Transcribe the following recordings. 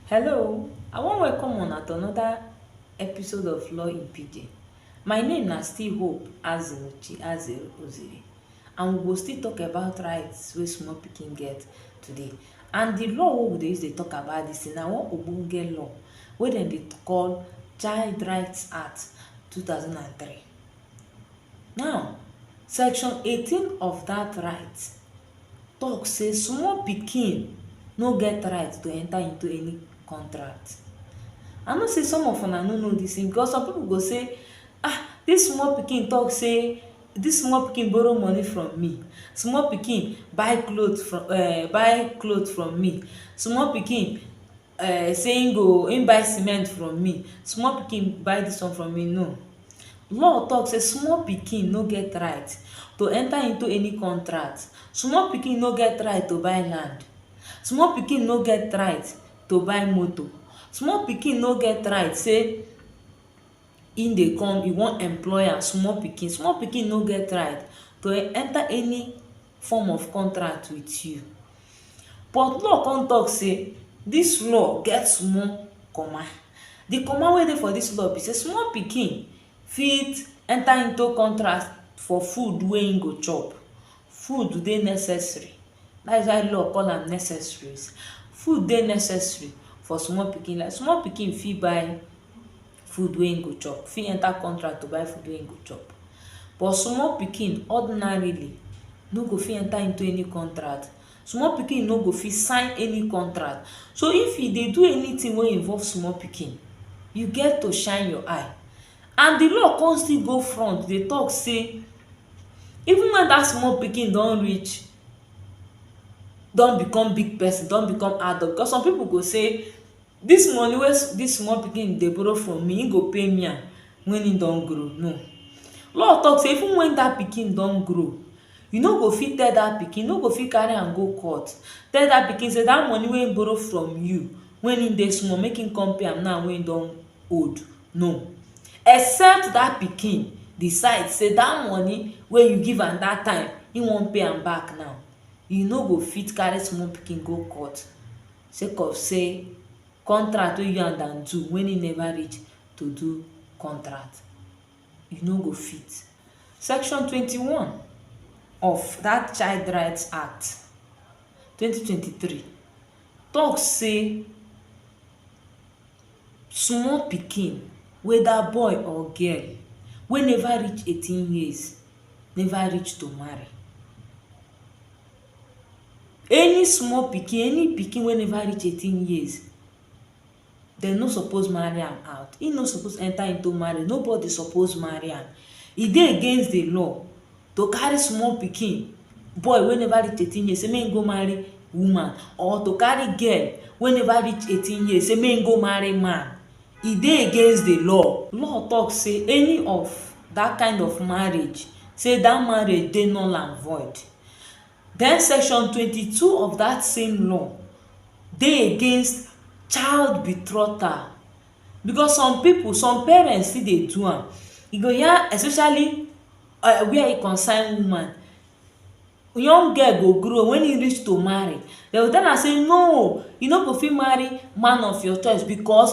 Hello, I wan welcome una to another episode of Law in Pidgin. My name na still Hope Azinuchi Azere Oziri and we go still talk about rights wey small pikin get today. And the law wey we dey use dey talk about this thing na one ogbonge law wey dem dey call Child Rights Act 2003. Now, section 18 of that right tok say small pikin no get right to enta into any contract. I know say some of una no know dis tin because some pipu go say, Ah! Dis small pikin tok say dis small pikin borrow money from me, small pikin buy cloth from um buy cloth from me, small pikin. um say he go he buy cement from me small pikin buy this one from me no law talk say small pikin no get right to enter into any contract small pikin no get right to buy land small pikin no get right to buy motor small pikin no get right say He dey come, he wan employ am, small pikin, small pikin no get right to enter any form of contract with you. But law come talk say dis law get small comma. De comma wey dey for dis law be sey small pikin fit enter into contract for food wey im go chop. Food dey necessary. Dats why law call am necessaries. Food dey necessary for small pikin. Like small pikin fit buy food wey im go chop, fit enter contract to buy food wey im go chop. But small pikin ordinarily no go fit enter into any contract. Small pikin no go fit sign any contract. So, if you dey do anything wey involve small pikin, you get to shine your eye. And the law con still go front dey talk say even when dat small pikin don reach don become big person, don become adult, because some pipu go say Dis money wey dis small pikin dey borrow from me, im go pay me am when im don grow? No. Law talk say even when dat pikin don grow, you no go fit tell dat pikin, you no go fit carry am go court tell dat pikin say dat money wey im borrow from you when im dey small, make im come pay am now wey im don old. No. Except dat pikin decide say dat money wey you give am dat time, im wan pay am back now. You no go fit carry small pikin go court sake of sey contract wey you and am do when e never reach to do contract, you no go fit. Section twenty one of dat child right act twenty twenty three talk sey small pikin weda boy or girl wey never reach eighteen years never reach to marry. Any small pikin, any pikin wey neva reach eighteen years, dem no suppose marry am out. Ein no suppose enter into marriage. Nobody suppose marry am. E dey against the law to carry small pikin – boy wey neva reach eighteen years – sey make ein go marry woman or to carry girl wey neva reach eighteen years sey make ein go marry man. E dey against the law. Law talk sey any of dat kain of marriage sey dat marriage dey null an void. den section twenty two of dat same law dey against child betrothal because some pipu some parents still dey do am you go hear especially where e concern woman young girl go grow wen e reach to marry dey go tell am say no you no go fit marry man of your choice because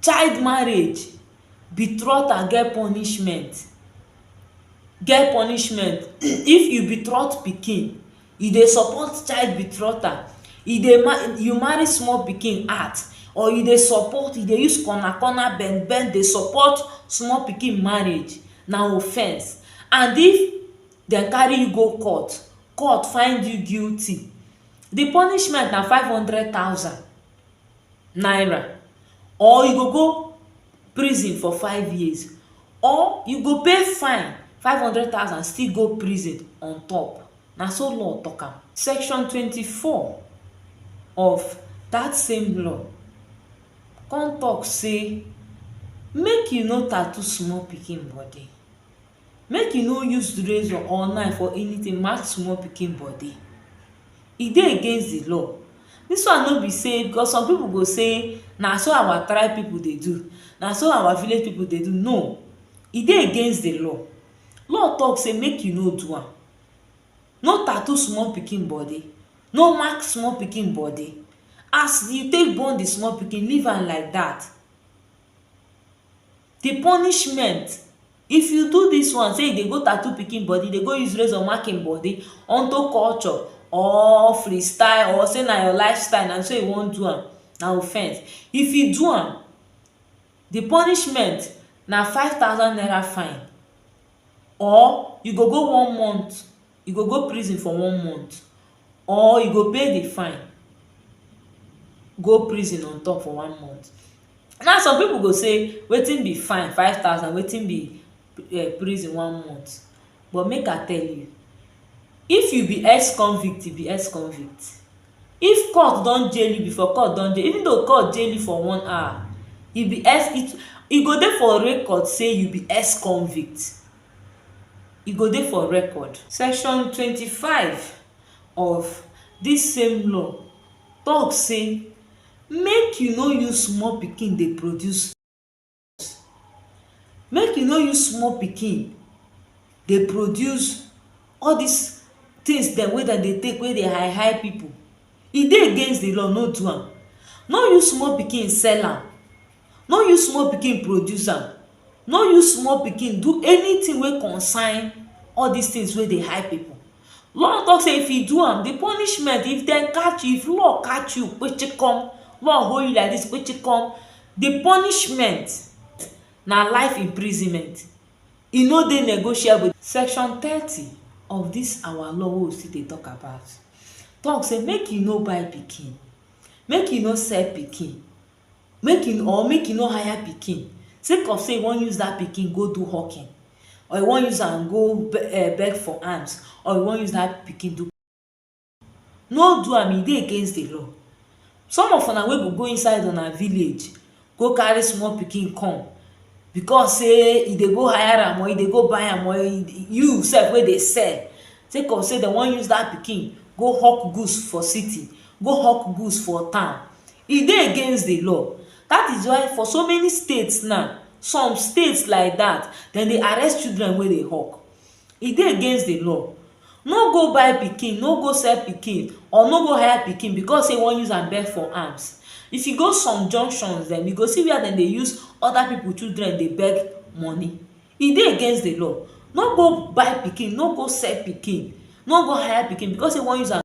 child marriage betroth and get punishment get punishment if you betroth pikin e dey support child betrothal e dey marry you marry small pikin act or you dey support you dey use corner corner bend bend dey support small pikin marriage na offence and if dem carry you go court court find you guilty the punishment na five hundred thousand naira or you go go prison for five years or you go pay fine five hundred thousand still go prison on top na so law tok am. Section twenty four of dat same law kon tok sey make you no tattoo small pikin body. Make you no use razor or knife or anything mark small pikin body. E dey against the law. Dis one no be sey because some pipu go say na so our tribe pipu dey do. Na so our village pipu dey do. No. E dey against the law. Law talk sey make you no do am. No tattoo small pikin body. No mark small pikin body. As you take born the small pikin, leave am like dat. Di punishment if you do dis one sey you dey go tattoo pikin body, dey go use razor mark im body unto culture or free style or sey na your life style na so you wan do am, na offence. If you do am, di punishment na five thousand naira fine or you go go one month you go go prison for one month or you go pay the fine go prison on top for one month now some people go say wetin be fine five thousand wetin be um prison one month but make I tell you if you be ex convict you be ex convict if court don jail you before court don jail even though court jail you for one hour you be ex e go dey for record say you be ex convict e go dey for record. Section twenty five of dis same law tok say make you no use small pikin dey produce drugs, make you no use small pikin dey produce all dis tins dem wey dem dey take wey dey high high pipu. E dey against di law, no do am. No use small pikin sell am. no use small pikin produce am no use small pikin do anything wey concern all this things wey dey high people law talk say if you do am the punishment if dem catch you if law catch you kpechekom law hold you like this kpechekom the punishment na life imprisonment e no dey negotiable section thirty of this our law wey we still dey talk about talk say make you no buy pikin make you no sell pikin make e or make e no hire pikin sake of sey e wan use dat pikin go do hawking or e wan use am go beg for alms or e wan use dat pikin do no do am, e dey against di law some of una wey go go inside una village go carry small pikin come becos sey e dey go hire am or e dey go buy am or you sef wey dey sell sake of sey dem wan use dat pikin go hawk goods for city go hawk goods for town E dey against the law that is why for so many states now some states like that dem dey arrest children wey dey hawk e dey against the law no go buy pikin no go sell pikin or no go hire pikin because say you wan use am beg for alms if you go some junctions dem you go see where dem dey use other people children dey beg money e dey against the law no go buy pikin no go sell pikin no go hire pikin because say you wan use am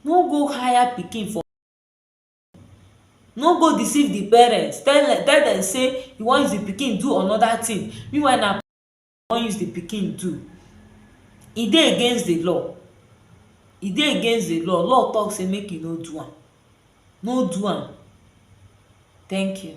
No go hire pikin for no go deceive the parents tell dem tell dem say you wan use the pikin do another thing meanwhile na wan use the pikin do e dey against the law e dey against the law, law talk say make you no do am no do am thank you